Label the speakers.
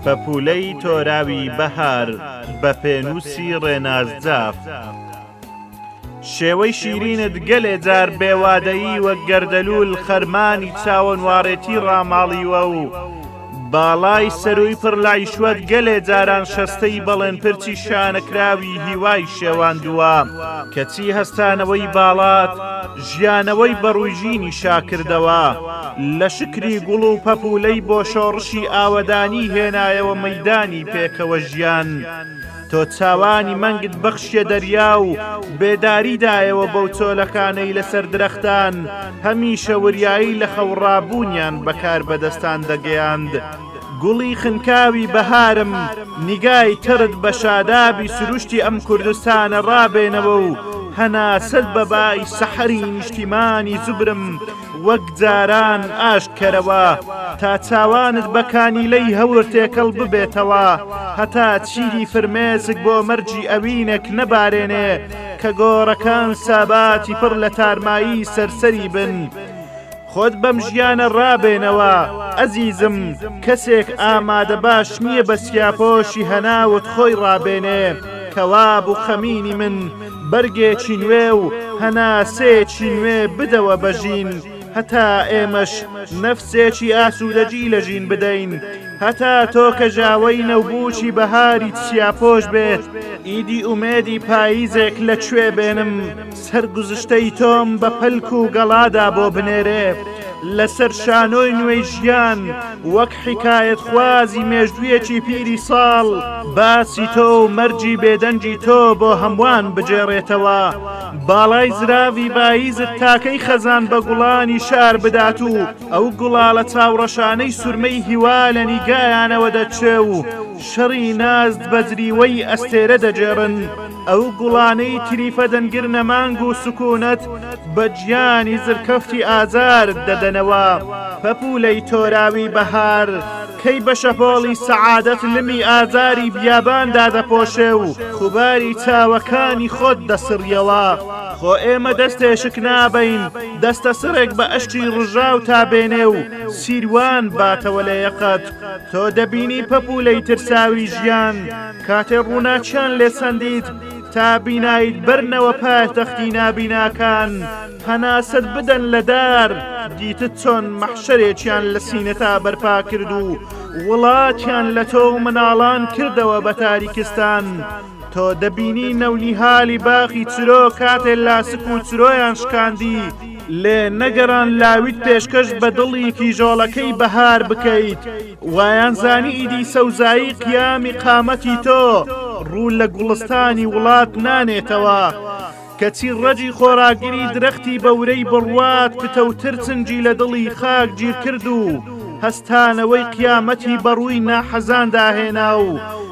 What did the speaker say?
Speaker 1: پەپوولەی تۆراوی بەهار بە پێنووسی ڕێناز جاف شێوەی شیرینت گەلێ جار بێوادەیی وەک گەردەلوول خەرمانی چاوەنواڕێتی ڕاماڵیوە و باڵای سەرووی پڕ لایشوەت گەلێ جاران شەستەی بەڵێن پرچی شانەکراوی هیوای شێواندووە کەچی هەستانەوەی باڵات ژیانەوەی بەڕووژینی شاکردەوە لە شکری گوڵ و پەپولەی بۆ شۆڕشی ئاوەدانی هێنایەوە مەدانی پێکەوە ژیان. تۆ چاوانی مەنگت بەخشیە دەریا و بێداری دایەوە بەو چۆلەکانەی لەسەر درەختان هەمیشە وریایی لە خەوڕابوونیان بەکار بەدەستان دەگەیاند. گوڵی خنکاوی بەهارم نیگای تڕت بە شادابی سروشتی ئەم کوردستانە ڕابێنەوە و هەناسەت بە بای سەحەری نیشتیمانی زوبرم وەک جاران ئاشت کەرەوە تا چاوانت بە کانیلەی هەور تێکەڵ ببێتەوە هەتا چیدی فرمێسک بۆ مەرجی ئەوینەک نەبارێنێ کە گۆڕەکان ساباتی پڕ لە تارمایی سەرسەری بن. خۆت بەم ژیانە ڕابێنەوە ئەزیزم کەسێک ئامادە باش نییە بە سیاپۆشی هەناوت خۆی ڕابێنێ کەواب و خەمینی من بەرگێکی نوێ و هەناسەیەکی نوێ بدەوە بە ژین، هەتا ئێمەش نەفسێکی ئاسوودەگی لە ژین بدەین، هەتا تۆ کە ژاوەی نەوبووکی بەهاری چیاپۆش بێت، ئیدی ئومێدی پاییزێک لە کوێ بێنم، سەرگوزشتەی تۆم بە پەلک و گەڵادا بۆ بنێرێ، لەسەر شانۆی نوێی ژیان، وەک. حیکایەتخوازی مێژوویەکی پیری ساڵ باسی تۆ و مەرگی بێدەنگی تۆ بۆ هەمووان بگێڕێتەوە باڵای زراوی باییزت تاکەی خەزان بە گوڵانی شار بدات و ئەو گوڵاڵە چاوڕەشانەی سورمەی هیوا لە نیگایانەوە دەچێ و شەڕی نازت بە جریوەی ئەستێرە دەگێڕن. ئەو گوڵانەی تریفە دەنگر نەمانگ و سکونەت بە گیانی زرکەفتی ئازارت دەدەنەوە، پەپولەی تۆراوی بەهار کەی بە شەپۆڵی سەعادەت لمی ئازاری بیابان دادەپۆشێ و خوباری چاوەکانی خۆت دەسڕیەوە، خۆ ئێمە دەستێشک نابەین دەستە سڕێک بە ئەشی ڕژاو تا بێنێ و سیروان باتەوە لە یەقەت، تۆ دەبینی پەپولەی ترساوی ژیان، کاتێ ڕووناکیان لێ سەندیت تا بینایت بەرنەوە پایتەختی نابیناکان هەناسەت بدەن لە دار دیتت چۆن مەحشەرێکیان لە سینەتا بەرپا کرد و وڵاتیان لە تۆ و مناڵان کردەوە بە تاریکستان تۆ دەبینی نەونیهالی باخی چرۆ کاتێ لاسک و چرۆیان شکاندی لێ نەگەران لاویت پێشکەش بە دڵی کیژۆڵەکەی بەهار بکەیت. وایان زانی ئیدی سەوزایی قیامی قامەتی تۆ ڕوو لە گوڵستانی وڵات نانێتەوە کەچی ڕەجی خۆراگری درەختی بە ورەی بڕوات پتەوتر چنجی لە دڵی خاک گیرکرد و هەستانەوەی قیامەتی بەڕووی ناحەزاندا هێنا و